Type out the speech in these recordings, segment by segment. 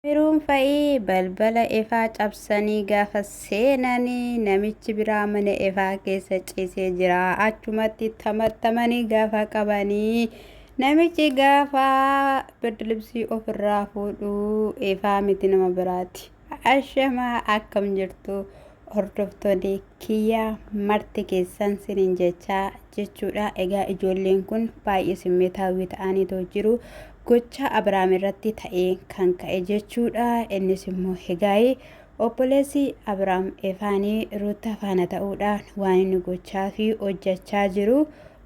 Meruun fa'i balbala Efaa cabsanii gaafa seenan namichi biraa mana Efaa keessa ciisee jira. Achumatti tamattamanii gaafa qabanii namichi gaafa birdilibsii ofirraa fuudhu Efaa miti nama biraati. Ashamaa akkam jirtu Hordoftooni kiyya marti keessan sinin jechaa jechuudha. Egaa ijoolleen kun baay'ee simmeetaawwii ta'aniitoo jiru. Gochaa Abrahaam irratti ta'ee kan ka'e jechuudha. Innis immoo egaa'ee obboleessi Abrahaam Efaanii Ruutaa faana ta'uudhaan waan inni gochaa fi hojjechaa jiru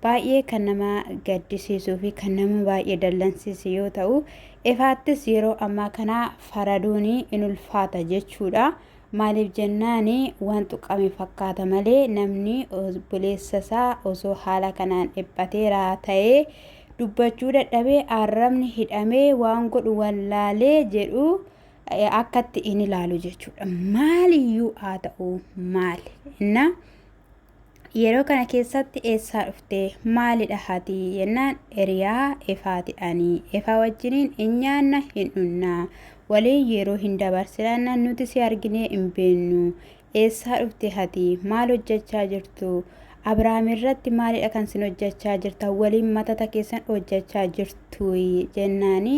baay'ee kan nama gaddisiisuu fi kan nama baay'ee dallansiisu yoo ta'u, Efaattis yeroo ammaa kana faraduun in ulfaata jechuudha. Maaliif jennaan waan tuqame fakkaata malee namni obboleessa isaa osoo haala kanaan dhiphateera ta'ee dubbachuu dadhabee arrabni hidhamee waan godhu wallaalee jedhu akkatti in ilaalu jechuudha. Maaliyyuu haa ta'u maali. Innaa yeroo kana keessatti eessaa dhufte maalidha hati yennaan eriyaa efaati ani efaa wajjiniin hin nyaanna hin dhunna waliin yeroo hin dabarsinanna nuti si arginee hin beennu eessaa dhufte hati maal hojjechaa jirtu abrahaam irratti maalidha kan sin hojjechaa jirta waliin matata keessan hojjechaa jirtu jennaani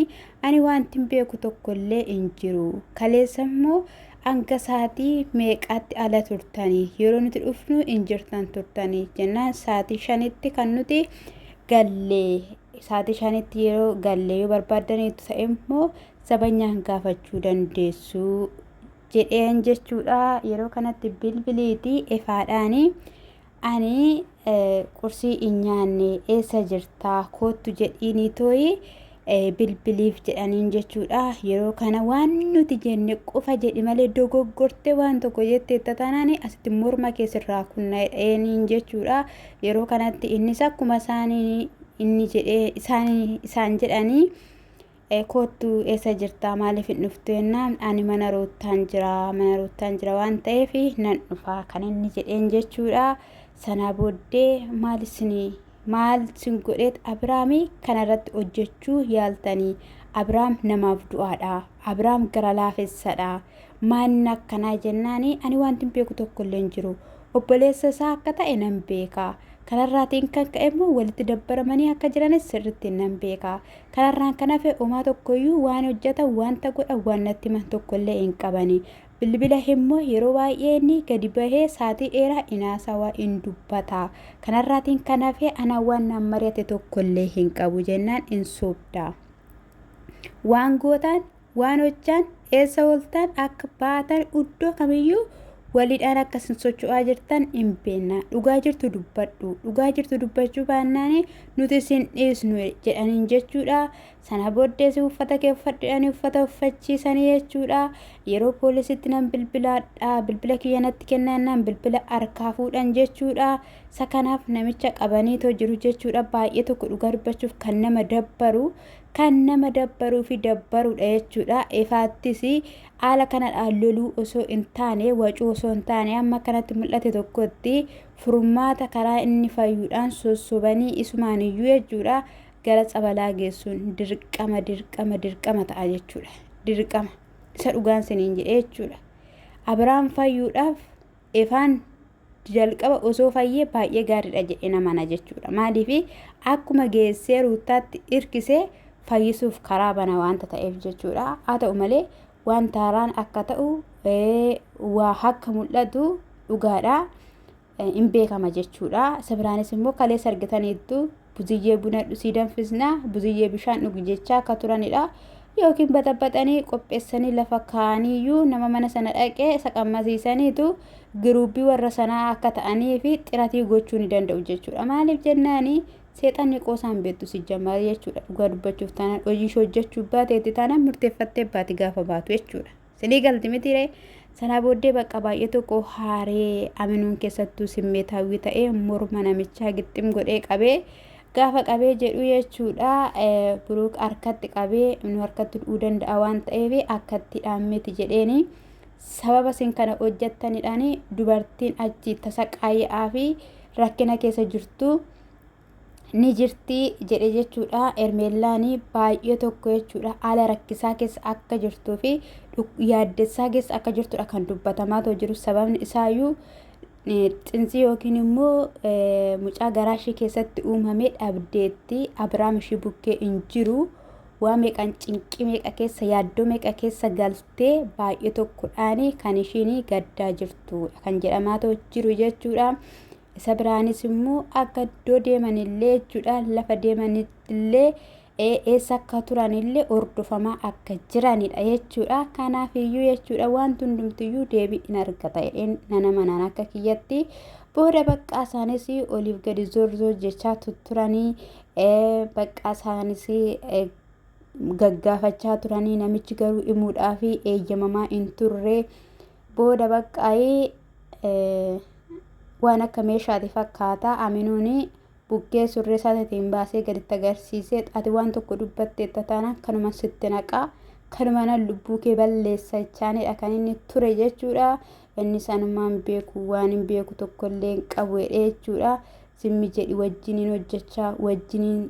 ani wanti hin beeku tokkollee hin jiru kaleessa immoo hanga sa'aatii meeqaatti ala turtanii yeroo nuti dhufnu hin jirtan turtanii jennaan sa'aatii shanitti kan nuti gallee sa'aatii shanitti yeroo gallee yoo barbaadaniitu ta'e immoo sabanyaan gaafachuu dandeessu jedheen jechuudha yeroo kanatti bilbiliitii ifaadhaanii Ani qursii hin nyaanne eessa jirta koottu jedhiinii tooyi bilbiliif jedhaniin jechuudha. Yeroo kana waan nuti jenne qofa jedhi malee dogoggortee waan tokko jetteetta taanaan asitti morma kee sirraa kunnaa'eeniin jechuudha. Yeroo kanatti innis akkuma isaanii inni jedhee isaan jedhanii Koottu eessa jirtaa maaliif hin dhuftu jennaan ani mana ruuttaan jira mana ruuttaan jira waan ta'eef nan dhufaa kan inni jedheen jechuudha. Sanaa booddee maal isin maal sin godheet Abiraamii kanarratti hojjechuu yaaltanii Abiraam namaaf du'aadha Abiraam gara laafessadha maanni akkanaa jennaani ani wanti hin beeku tokko illee hin jiru obboleessa isaa akka ta'e nan beeka. Kanarraatiin kan ka'e immoo walitti dabbaramanii akka jiranis sirriitti nan beeka. Kanarraan kan hafe omaa tokkoyyuu waan hojjatan wanta godhan waan natti himan tokkollee hin qabani. Bilbila immoo yeroo baay'ee inni gadi bahee saatii dheeraa hin haasawa hin dubbata. Kanarraatiin kan hafe ana waan naan mari'ate tokkollee hin qabu jennaan hin sobda. Waan gootaan Waan hojjaan eessa ooltan akka baatan iddoo kamiyyuu waliidhaan akka isin socho'aa jirtan hin beekna dhugaa jirtu dubbadhu dhugaa jirtu dubbachuu baannaan nuti isin dhiisnu jedhaniin jechuudha sana booddees uffata kee uffadhu jedhanii uffata uffachiisanii jechuudha yeroo poolisitti nan bilbilaadha bilbila kiyya natti kennaannaan bilbila harkaa fuudhan jechuudha isa kanaaf namicha qabaniitoo jiru jechuudha baay'ee tokko dhugaa dubbachuuf kan nama dabbaru Kan nama dabbaruu fi dabbaruudha jechuudha. Ifaattis haala kanadhaan loluu osoo hin taane, wacuu osoo hin taane amma kanatti mul'ate tokkotti furmaata karaa inni fayyuudhaan sossobanii isumaan iyyuu jechuudha gara tsabalaa geessuun dirqama dirqama dirqama ta'a jechuudha. Dirqama isa dhugaan siniin jedhee jechuudha. Abiraam fayyuudhaaf Efaan jalqaba osoo fayyee baay'ee gaariidha jedhee namana jechuudha. Maaliif akkuma geessee ruuttaatti irkisee fayyisuuf karaa bana waanta ta'eef jechuudha. Haa ta'u malee wanta haaraan akka ta'u waa akka mul'atu dhugaadha. Hin beekama jechuudha. Sabiraanis immoo kaleessa argitaniittu buziyyee buna dhusii danfisna buziyyee bishaan dhugi jechaa akka turanidha yookiin baxabaxanii qopheessanii lafa kaa'aniiyyuu nama mana sana dhaqee isa qammasiisaniitu giruubii warra sanaa akka ta'anii fi xiratii gochuu ni danda'u jechuudha maaliif jennaani seexanni qoosaan beektu si jammaara jechuudha dhugaa dubbachuuf taanaan hojii ishee hojjechuu baateetti taanaan murteeffattee baati gaafa baatu jechuudha. Sinii galti miti ree? Sanaa booddee bakka baay'ee tokko haaree aminuun keessattuu simmeetaawwii ta'ee morma namichaa gixxim godhee qabee gaafa qabee jedhu jechuudha buruuk harkatti qabee nu harkatti du'uu danda'a waan ta'eef akkatti dhaammiti jedheeni sababa isin kana hojjettanidhaan dubartiin achi tasaqaaya'aa fi rakkina keessa jirtu ni jirti jedhe jechuudha. Ermeellaan baay'ee tokko jechuudha. Haala rakkisaa keessa akka jirtuu fi yaaddessaa keessa akka jirtudha kan dubbatamaa ta'u jiru. Sababni isaayyuu xinsii yookiin immoo mucaa garaa ishee keessatti uumame dhabdeetti. Abiraam ishee bukkee hin jiru. Waa meeqan cinqii meeqa keessa yaaddoo meeqa keessa galtee baay'ee tokkodhaan kan ishiin gaddaa jirtu kan jedhamaa ta'u jiru jechuudha. Isa biraanis immoo akka iddoo deemanillee jechuudha lafa deemanillee eessa akka turanillee hordofamaa akka jiranidha jechuudha. Kanaaf iyyuu jechuudha wanti hundumtiyyuu deebii in argata jedheen nana manaan akka kiyyatti booda baqqaa isaanis oliif gadi zorzoo jechaa turanii baqqaa isaanis gaggaafachaa turanii namichi garuu himuudhaaf eeyyamamaa hin turre. Booda baqqaayi waan akka meeshaati fakkaata. Aminuun buggee surree isaatiitiin baasee gaditti agarsiisee ati waan tokko dubbatteetta taanaan kanuma sitti naqaa kanumaan lubbuu kee balleessa jechaanidha kan inni ture jechuudha. Inni sanumaan beeku waan hin beeku tokko illee hin qabu jedhee jechuudha. Zimmi jedhi wajjiniin hojjechaa wajjiniin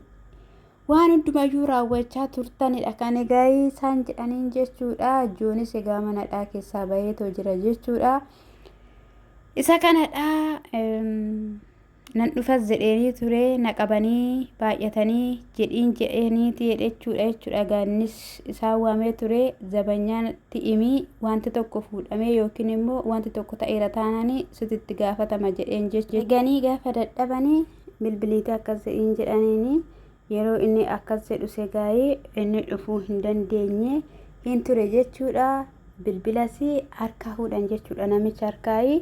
Waan hundumayyuu raawwachaa turtanidha kan egaa isaan jedhaniin jechuudha. Joonis egaa manadhaa keessaa baheetoo jira jechuudha. Isa kanadha nan dhufas jedheenii ture na qabanii baay'atanii jedhiin jedheeniiti jechuudha jechuudha. Egaa innis isaan waamee ture zabanyaatti imii wanti tokko fuudhamee yookiin immoo wanti tokko ta'eera taananii sititti gaafatama jedheen jechuudha. Ganii gaafa dadhabanii bilbiliite akkas jedhiin jedhaniini yeroo inni akkas jedhu segaayee inni dhufuu hin dandeenye hin ture jechuudha bilbilas harkaa fuudhan jechuudha namicha harkaayi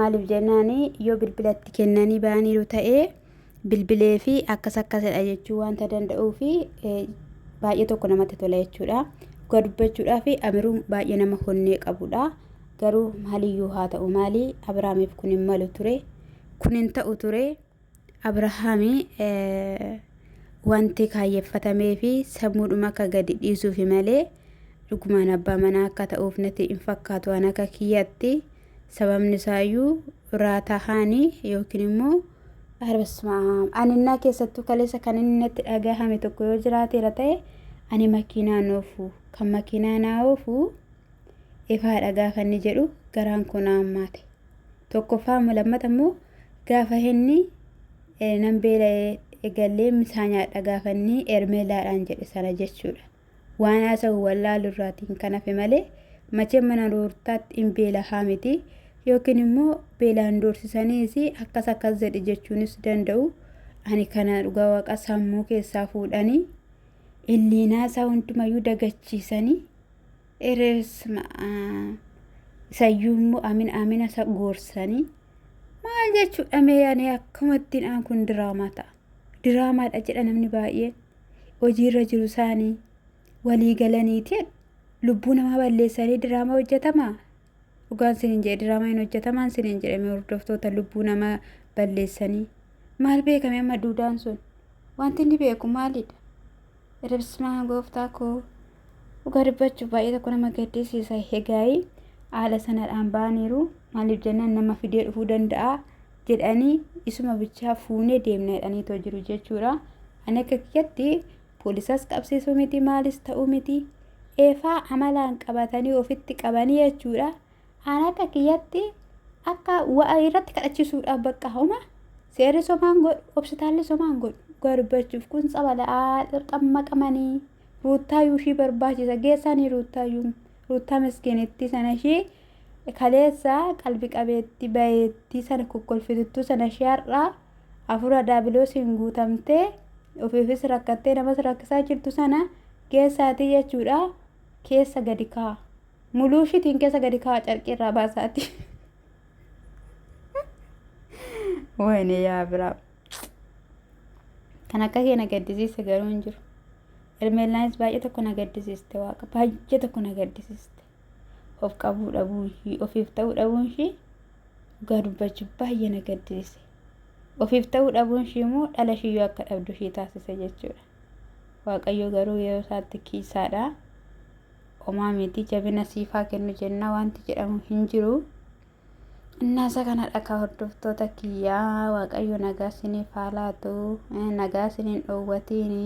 maaliif jennaani yoo bilbilatti kennanii ba'aniiru ta'ee bilbilee fi akkas akkasidha jechuu wanta danda'uu fi baay'ee tokko namatti tola jechuudha dhugaa dubbachuudhaa fi amiruun baay'ee nama honnee qabudha garuu maaliyyuu haa ta'u maalii abiraamiif kun hin malu ture. kun hin ta'u ture. Abrahaami wanti kaayyeffatamee fi sammuudhuma akka gadi dhiisuufi malee dhugumaan abbaa manaa akka ta'uuf natti hin fakkaatu waan akka kiyyatti sababni isaayyuu raatahaani yookiin immoo arbasmaam aninnaa keessattuu kaleessa kan inni natti dhagahame tokko yoo jiraateera ta'e ani makiinaa noofu kan makiinaa naa oofu ifaa dhagaa kan inni jedhu garaan koo na hammaate. Tokkoffaa immoo lammata immoo gaafa inni eh, nan beela'ee eegallee misaa nyaadha gaafa inni ermeelaadhaan jedhe sana jechuudha. Waan haasa'u wallaalu irraatiin kan hafe malee machee mana ruurtaatti hin beelahaa miti yookiin immoo beelaan doorsisaniis akkas akkas jedhe jechuunis danda'u. Ani kana dhugaa waaqa sammuu keessaa fuudhanii illiinaa isaa hundumayyuu dagachiisanii Ere sma isayyuu immoo amina amina isa goorsanii maal jechuudha mee ani akkamattiin aan kun diraamaa ta'a diraamaadha jedha namni baay'een hojiirra jiru isaanii walii galaniiti lubbuu namaa balleessanii diraamaa hojjetamaa Dhugaan sinin jedhe diraamaa hin hojjetamaan sinin jedhe mee hordoftoota lubbuu nama balleessanii. Maal beekame amma duudaan sun? Wanti inni beeku maalidha? Ribsmaa gooftaa koo. Dhugaa dubbachuuf baay'ee tokko nama gaddisiisa. Egaayii haala sanadhaan ba'aniiru. Maaliif jennaan nama fidee dhufuu danda'a jedhanii isuma bichaa fuunee deemna jedhaniitoo jiru jechuudha. Ani akka kiyyatti Polisas qabsisu miti maalis ta'u miti eefaa amalaan qabatanii ofitti qabanii jechuudha. Aan akka kiyyatti akka wa'a irratti kadhachiisuudhaaf bakka homa seerri somaan godhu obsitaalli somaan godhu garbachuuf kun tsabala'aa dirqamma qamanii ruuttaayuu ishii barbaachisa geessaanii ruuttaayuu ruuttaa miskiinittii sana ishii kaleessa qalbi qabeetti bayeetti sana kokkolfituttuu sana ishii har'aa Hafuura daabiloosiin guutamtee ofiifis rakkattee namas rakkisaa jirtu sana geessaatii jechuudha keessa gadi kaa. Muluu ishiitiin keessa gadi kaa carqii irraa baasaati. Wayne yaa biraa. Kan akka kee na gaddisiise garuu hin jiru. Ermeellaanis baay'ee tokko na gaddisiiste waaqa baay'ee tokko na gaddisiiste. of qabuu dhabuun ishii ofiif ta'uu dhabuun ishii dhugaa dubbachuu baay'ee na gaddisiise ofiif ta'uu dhabuun ishii immoo dhala ishiyyuu akka dhabdu ishii taasise jechuudha waaqayyo garuu yeroo isaatti kiisaadha omaa miti jabina siifaa kennu jennaa wanti jedhamu hin jiru innaasa kana dhakaa hordoftoota kiyyaa waaqayyo nagaa siniif haa laatu nagaa siniin dhoowwatiini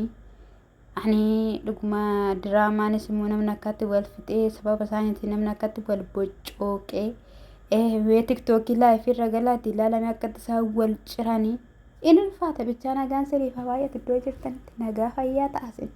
Ani dhuguma diraamaanis immoo namni akkatti wal fixee sababa isaaniitiin namni akkatti wal boccooqee eh, mee tiktookii laayifii irra galaati ilaalame akkatti isaan wal ciranii in ulfaata bichaa nagaan siriif haa baay'atu iddoo jirtanitti nagaa fayyaa ta'asin.